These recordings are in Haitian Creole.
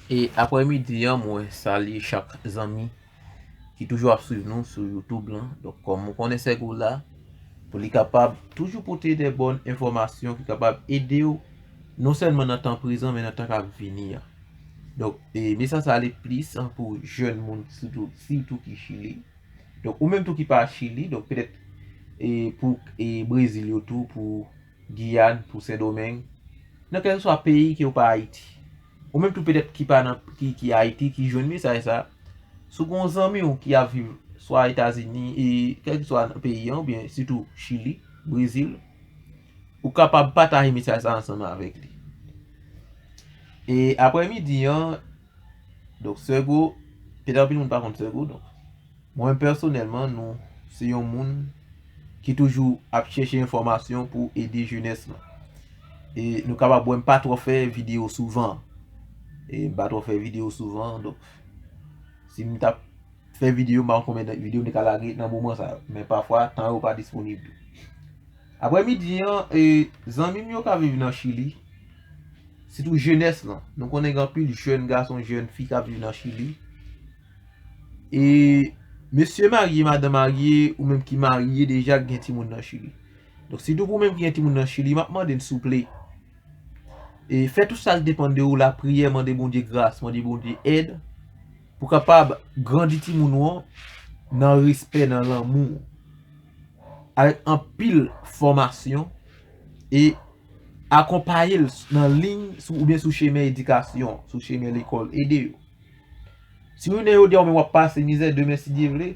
E aprè midi an mwen salye chak zanmi ki toujou ap swiv nou sou youtube lan Donk kòm ou konnen sèk ou la pou li kapab toujou pote de bòn enfòmasyon ki kapab ede ou non sèlman nan tan prezan men nan tan k ap vini an Donk e mesaj sa ale plis pou jèn moun sitou sitou ki chili Donk ou menm tou ki pa chili donk petèt e pou e brezil yo tou pou Giyàn, pou Sendomeng, nan kèlkeswa peyi ke ou pa Ayiti. Ou menm tou petèt ki pa nan, ki, ki Ayiti, ki jwenn mesaj sa, si w gen yon zanmi w ki ap viv swa Etazini, e kèlkeswa nan peyi an, oubyen sitou Chili, Brezil, ou kapab pataje mesaj sa ansanm avèk li. E aprè midi an, donk Sègo, petèt anpil moun pa konn Sègo, donk. Mwen pèsonèlman nou se yon moun ki toujou ap chèche enfòmasyon pou ede jenès lan. E nou kapab wè m pa twò fè videyo souvan. E m pa twò fè videyo souvan. Donk si m t ap fè videyo m pa konn konbyen videyo m te ka lage nan moman sa. Men pafwa tan yo pa disponib tou. Aprè midi an e zanmi m yo k ap viv nan chili. Sitou jenès lan. Nou konnen gen anpil jèn gason jèn fi k ap viv nan chili. E mesye marye, madan marye, ou menm ki marye deja ki gen timoun nan chili. Donk si tou pou menm ki gen timoun nan chili, map mande n souple. E fè tou sal depan de ou la priyè mande Bondye gras, mande Bondye èd pou kapab grandi timoun ou an nan respè, nan lanmou. Avèk anpil fòmasyon e akonpaye l nan liy ou byen sou chemen edikasyon, sou chemen lekòl ede yo. Si w inen jodi a ou menm w ap pase mizè demen si Dye vle,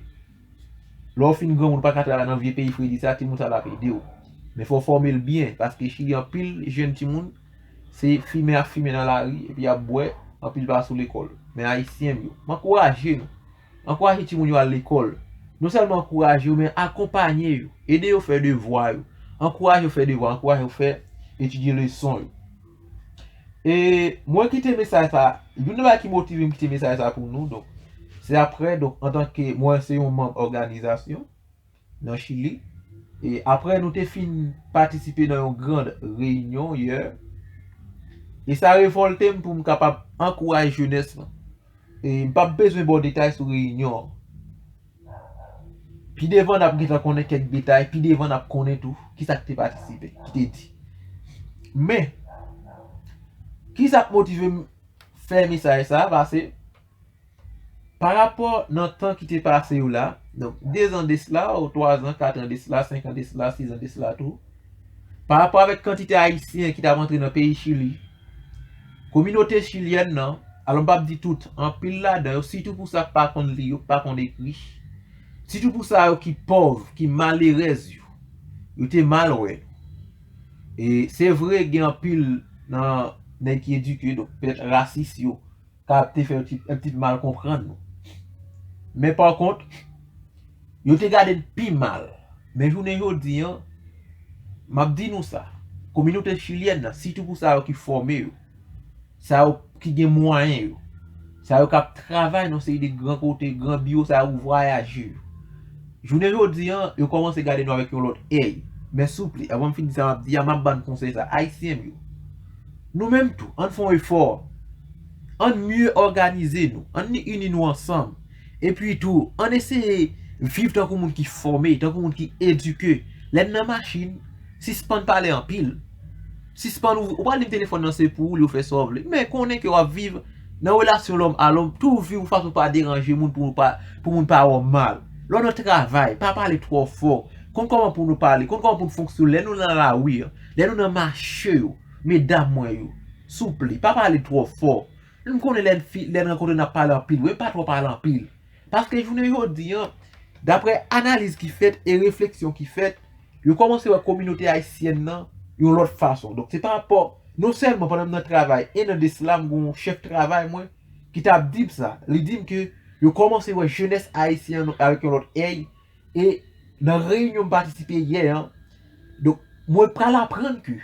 lè w fin granmoun ou pa ka travay nan vye peyi fredi sa, timoun sa yo ap ede w. Men fò w fòme l byen paske Chili anpil jenn timoun se fimen y ap fimen nan lari epi y ap bwè, anpil pa sou lekòl. Men Ayisyen m yo, m ankouraje nou, ankouraje timoun yo al lekòl. Non sèlman ankouraje yo men akonpanye yo, ede yo fè devwa yo, ankouraje yo fè devwa, ankouraje yo fè etidye leson yo. E mwen kite mesaj sa, youn nan bagay ki motive m kite mesaj sa pou nou, donk se aprè donk antanke mwen se yon manm òganizasyon nan Chili, e aprè nou te fin patisipe nan yon grand reyinyon yè, e sa revòlte m pou m kapab ankouraje jenès lan. M p ap bezwen ba w detay sou reyinyon an. Pi devan n ap gentan konnen kèk detay, pi devan n ap konnen tou ki sa ki te patisipe, ki te di. Men, ki sa k motive m fè mesaj sa a? Pase, parapò nan tan ki te pase yo la, donk dezan de sla, ou twazan, katran de sla, senkan de sla, sizan de sla tou, parapò avèk kantite Ayisyen ki t ap antre nan peyi Chili, Kominote chilyèn nan, alò m p ap di tout, anpil ladan yo, sitou pou sa k pa konn li yo, k pa konn ekri, sitou pou sa yo ki pòv, ki malerèz yo, yo te mal wè nou. E se vre gen anpil nan nèg ki edike, donk pètèt rasis yo, ka ap te fè yon ti ptit mal konprann nou. Men pa kont, yo te gade n pi mal. Men jounen jodi an, m ap di nou sa, kominote chilyèn nan, sitou pou sa yo ki fòme yo, sa yo ki gen mwayen yo, sa yo k ap travay nan yon seri de gran kote, gran biwo sa yo, vwayaje yo. Jounen jodi an, yo kòmanse gade nou avèk yon lòt èy. Men souple, avan m fin di sa m ap di a, m ap ban n konsèy sa, Ayisyen m yo, Nou menm tou, ann fè yon efò. Ann mye òganize nou. Ann ni ini nou ansanm. Epi tou, ann eseye viv tankou moun ki fòme, tankou moun ki edike. Lè n nan machin, sispann pale anpil. Sispann ou pral di m telefòn nan se pou ou li ou fè sa w vle. Men konnen ke w ap viv nan relasyon lòm a lòm. Tou viv yon fason pou w pa deranje moun, pou moun pa wè w mal. Lè w nan travay, pa pale twò fò. Konn kòman pou nou pale, konn kòman pou nou fonksyone lè nou nan lari an. Lè nou nan mache yo, medam mwen yo, souple, pa pale twò fò. M konnen lè n fi, lè n rankontre n ap pale anpil wi, men pa twò pale anpil. Paske jounen jodi an, daprè analiz ki fèt e refleksyon ki fèt, yo kòmanse wè kominote ayisyèn nan yon lòt fason. Donk se pa pa, non sèlman pandan m nan travay, 1 an desla m gen yon chèf travay mwen ki t ap di m sa, li di m ke yo kòmanse wè jenès ayisyen an avèk yon lòt èy, E nan reyinyon m patisipe yè an, donk mwen pral aprann ke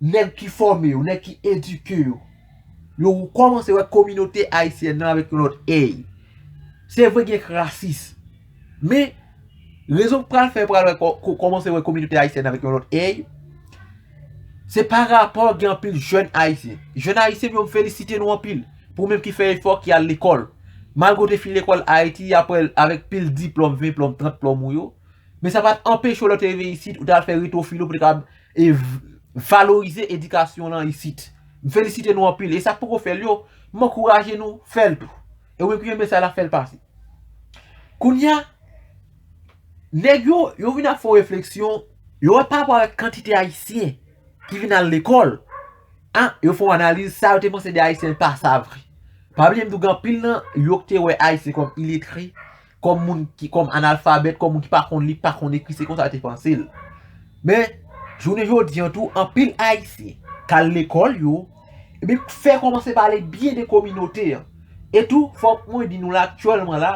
nèg ki fòme yo, nèg ki edike yo, yo kòmanse wè kominote ayisyèn nan avèk yon lòt èy. Se vre gen rasis, men rezon k pral fè yo pral wè kòmanse wè kominote ayisyèn nan avèk yon lòt èy, se pa rapò gen anpil jèn ayisyen. Jèn ayisyen m yo m felisite nou anpil. Pou menm ki fè efò, ki al lekòl. Malgre w te fin lekòl Ayiti apre l avèk pil diplòm, 20 plòm, 30 plòm ou yo, men sa pa t anpeche w lè w te rive isit, ou te al fè retofil ou pou te kapab valorize edikasyon w lan isit. M felisite nou anpil. E sa k poko fè l yo, m ankouraje nou fè l tou. E ou menm ki renmen sa l la, fè l pase. Kounye a, nèg yo, yo vin ap fè yon refleksyon, yo wè parapò avèk kantite Ayisyen. ki vin al lekòl, a, yo fè yon analiz, sa yo te panse de Ayisyen l pa sa vre. Pa bliye m di w gen anpil nan yo ki te wè Ayisyen kòm iletre, kòm moun ki, kòm analfabèt, kòm moun ki pa konn li, ki pa konn ekri, se konsa yo te panse l. Men, jounen jodi an tou, anpil Ayisyen k al lekòl yo, epi k fè kòmanse pale byen de kominote an. E tou, fòk mwen di nou la aktyèlman la,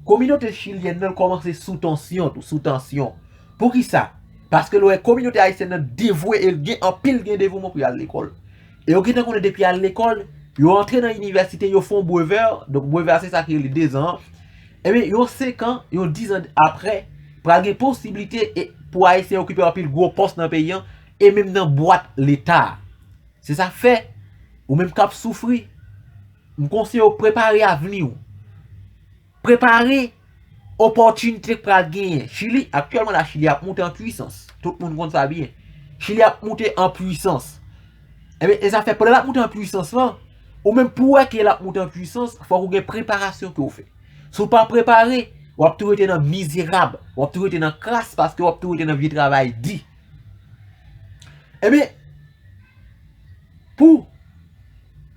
kominote chilyèn nan kòmanse sou tansyon tou, sou tansyon. Poukisa? Paske l wè kominote ayisyèn nan devwe e gen anpil gen devouman pou y al lekòl. E yo gentan konnen depi y al lekòl, yo antre nan inivèsite, yo fè yon brevè, donk brevè a se sa ki rele dezan an, enben yon senkan, yon dizan apre, pral gen posiblite e pou Ayisyen okipe anpil gwo pòs nan peyi an e menm nan bwat Leta a. Se sa k fè, ou menm k ap soufri, m konseye w prepare avni w. Prepare opòtinite k pral genyen. Chili, aktyèlman la Chili ap moute an pwisans. Tout moun konn sa byen. Chili ap moute an pwisans. Ebyen, e sa fè pandan l ap moute an pwisans lan, ou menm pou wè ke l ap moute an pwisans, fòk ou gen preparasyon ke ou fè. Si ou pa prepare, w ap tou rete nan mizerab, w ap tou rete nan kras paske w ap tou rete nan vye travay di. Ebyen, pou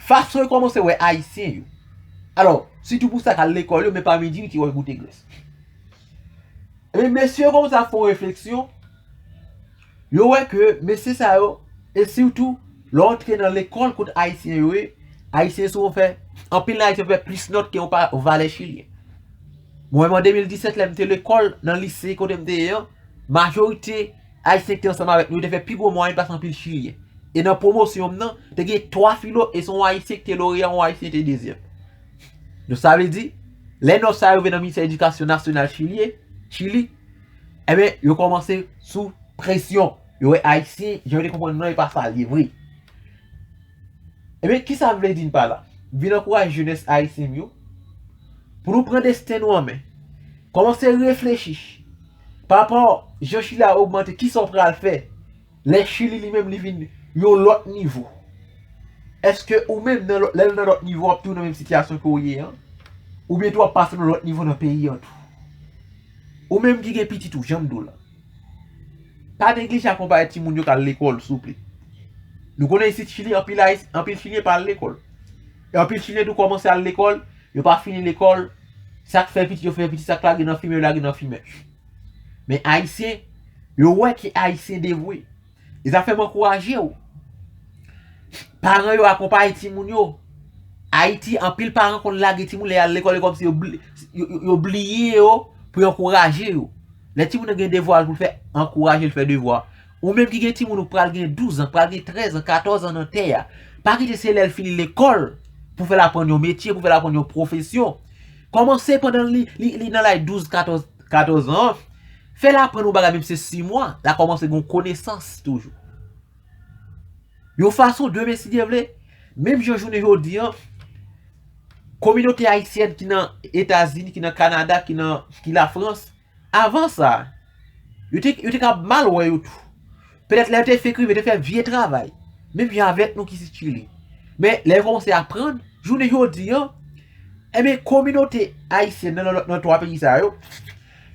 fason yo kòmanse wè Ayisyen yo, alò, sitou pou sa k al lekòl yo, men pa midi yo te wè Gotegrès. Ebyen, mesye yo kòmanse ap fè yon refleksyon, yo wè ke mesye sa yo, e sitou, lè w antre nan lekòl kote Ayisyen yo ye, Ayisyen souvan fè, anpil nan Ayisyen fè plis nòt ke yon valè Chilyen. Mwen menm an 2017 lè m te lekòl nan lise kote m te ye an, Majorite Ayisyen ki te ansanm avèk nou yo te fè pi gwo mwayèn pase anpil Chilyen. E nan pwomosyon m nan, te gen 3 filo e se yon Ayisyen ki te loreya, yon Ayisyen te dezyèm. Donk sa vle di, lè nòt sa a rive nan Ministè Edikasyon Nasyonal Chilyen, Chili, enben yo kòmanse sou presyon. Yo wè Ayisyen, jan yo te konprann nou an e pa sa l ye vre. Enben, ki sa m vle di n pa la? M vin ankouraje jenès Ayisyen m yo pou nou pran desten nou an men. Kòmanse reflechi Papa jan chili a ogmante kisa w pral fè lè chili li menm li vin yon lòt nivo eske ou menm nan lè nan lòt nivo wap tou nan menm sitiyasyon ke w ye an oubyen tou wap pase nan lòt nivo nan peyi an tou ou menm ki gen pitit ou janm diw la pa neglije akonpaye ti moun yo kal lekòl souple nou konnen isit chili anpil chilyen pa al lekòl. Anpil chilyen tou kòmanse al lekòl, yo pa fini lekòl, sak fè pitit yo fè pitit sak lage nan fimen yo lage nan fimen. Men ayisyen, yo wè ke ayisyen devwe. E sa fè m ankouraje w. Paran yo akonpaye timoun yo. Ayiti anpil paran konn lage timoun lè yal lekòl e kòmsi yo bliye yo pou yo ankouraje yo. Lè timoun nan gen devwa l pou l fè, ankouraje l fè devwa. Ou menm ki gen timoun ou k pral gen 12 an, k pral gen 13 an, 14 an nan tè a, pa kite se lè l fini lekòl pou fè l aprann yon metye, pou fè l aprann yon pwofesyon. Kòmanse pandan li nan lay 12, 14, 14 an, fè l aprann yon bagay menm se 6 mwa, l a kòmanse gen yon konesans toujou. Yon fason demen si Dye vle, menm jan jounen jodi an, kominote ayisyèn ki nan Etazini, ki nan Kanada, ki nan, ki Lafrans, Avan sa, yo te yo te kab mal wè yo tou. Petèt lè yo te fenk rive, yo te fè vye travay, menm jan avèk nou ki sitile. Men, lè yo kòmanse aprann, jounen jodi an, enben, kominote ayisyèn nan nan nan twa peyi sa yo,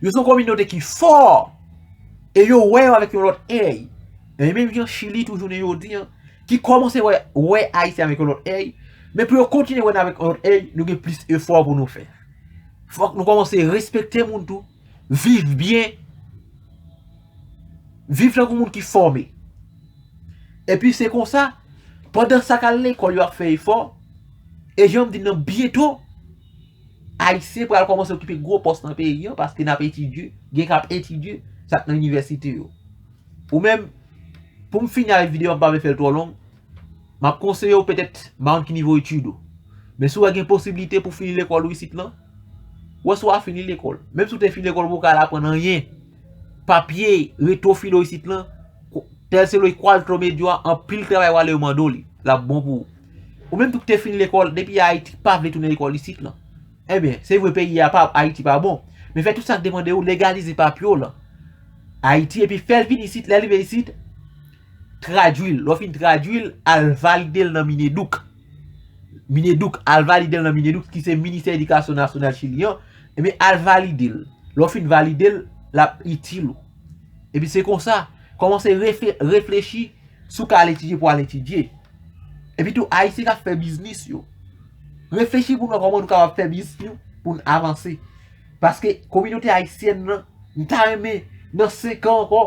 yo se yon kominote ki fò e yo wè yo avèk yon lòt èy. E menm jan Chili tou jounen jodi an, ki kòmanse wè wè Ayisyen avèk yon lòt èy, men pou yo kontinye wè nou avèk yon lòt èy, nou gen plis efò pou nou fè. Fòk nou kòmanse respekte moun tou, viv byen, viv tankou moun ki fòme. Epi se konsa, pandan sa k al lekòl yo ap fè efò, e jan m di nan byento, Ayisyen pral kòmanse okipe gwo pòs nan peyi an paske n ap etidye, gen k ap etidye sa k nan inivèsite yo. Ou menm, pou m fini avèk videyo an m pa vle fè l twò long, Map konseye w petèt ba yon ti nivo etid ou. Men si wè gen posibilite pou fini lekòl ou isit lan, wè si wap fini lekòl. Menm si w te fini lekòl ou poko al aprann anyen, papye reto filo isit lan, tèl se lòy kwaltro medyo a, anpil travay wale yo mande w li, lap bon pou ou. Ou menm tou ki te fini lekòl, depi Ayiti pa vle tounen lekòl isit lan. Enben, se vre peyi a pa, Ayiti pa bon, men fè tout sak depande ou, legalize papye w lan Ayiti epi fèl vini isit, lèl rive isit, Tradwil, lè w fin tradwil, al valide l nan Mineduc. Mineduc, al valide l nan Mineduc ki se Ministè Edikasyon Nasyonal Chili an. Ebyen, al valide l. Lè w fin valide l, l ap itil ou. Epi se konsa, kòmanse reflechi si w ka al etidye pou al etidye. Epi tou, Ayisyen k ap fè biznis yo. Reflechi pou nou wè kòman nou kapab fè biznis nou pou n avanse. Paske kominote Ayisyèn nan, m ta renmen nan senkan ankò.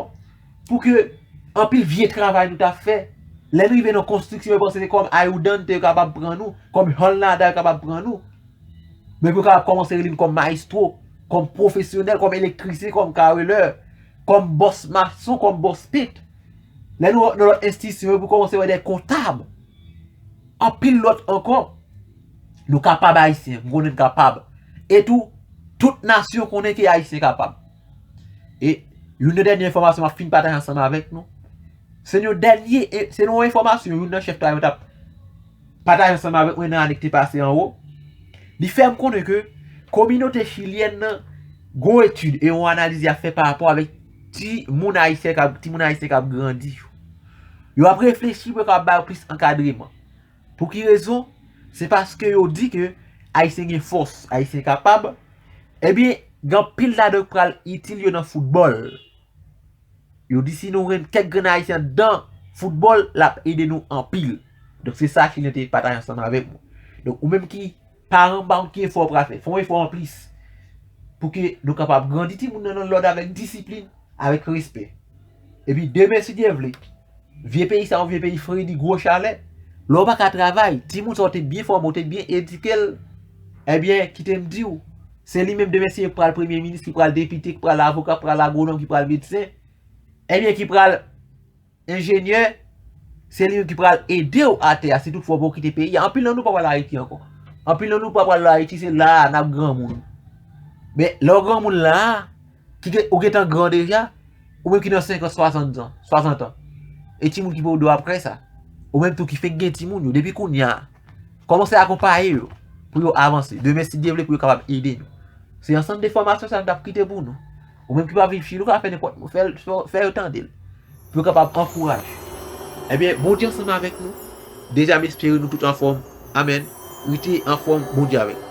Pou ke anpil vye travay nou ta fè, lè nou rive nan konstriksyon yo panse se kòm Ayoudante yo kapab pran nou, kòm Holnada yo kapab pran nou. Men pou yo kapab kòmanse rele nou kòm Maestro, kòm pwofesyonèl, kòm elektrisyen, kòm karelè, kòm bòs mason, kòm bòs pent. Lè nou nan lòt enstisyon yo pou kòmanse wè dè kontab. Anpil lòt ankò. Nou kapab Ayisyen, m konnen n kapab. E tou, tout nasyon konnen ke Ayisyen kapab. E yon nan dènye enfòmasyon map fin pataje ansanm avèk nou, se yon dènye, se yon enfòmasyon yon nan chèf la yo tap pataje ansanm avèk mwen nan ane ki te pase anwo, li fèm konnen ke kominote chilyèn nan gon etid e yon analiz yap fè parapò avèk ti moun ayisyen kap grandi yo. Yo ap reflechi pou yo kapab ba yo plis ankadreman. Pou ki rezon? Se paske yo di ke Ayisyen gen fòs, Ayisyen kapab, ebyen gen anpil ladan yo ki pral itil yo nan foutbòl. Yo di si nou gen kèk grenn Ayisyen anndan foutbòl, l ap ede nou anpil. Donk se sa Chilyen te pataje ansanm avèk mwen. Donk ou menm ki paran, m pa konn ki efò ou pral fè, fè yon efò anplis pou ke nou kapab grandi timoun nan nan lòd avèk disiplin, avèk respè. Epi demen si Dye vle. Vye peyi sa yo vye peyi fredi gwo chalè lè w pa ka travay timoun sa w te byen fòme w te byen edike l ebyen kite m di w se li menm demen si yo k pral premye minis ki pral depite ki pral avoka ki pral agwonòm ki pral medsen ebyen ki pral enjenyè se li menm ki pral ede w atè a si tout fwa w pa w kite peyi a anpil nan nou pa pral ayiti ankò anpil nan nou pa pral ayiti se la a n ap granmoun men lè w granmoun la a Ou gentan gran deja, ou menm ki nan 50, 60 ans, 60 ans. E timoun ki pou do aprè sa. Ou menm tou ki fèk gen timoun yo, depi kounye a. Komanse akonpaye yo, pou yo avanse. Demen si Dye vle pou yo kapab ede nou. Se ansanm de fòmasyon sa nou tap kite pou nou. Ou menm ki pa viv chili, ou ka fè nenpòt mo, fè yo tande l. Pou yo kapab ankouraje. Ebyen, bon Dye ansanm avèk nou. Deja m espere nou tout anfòm. Amen. Rete anfòm, bon Dye avèk.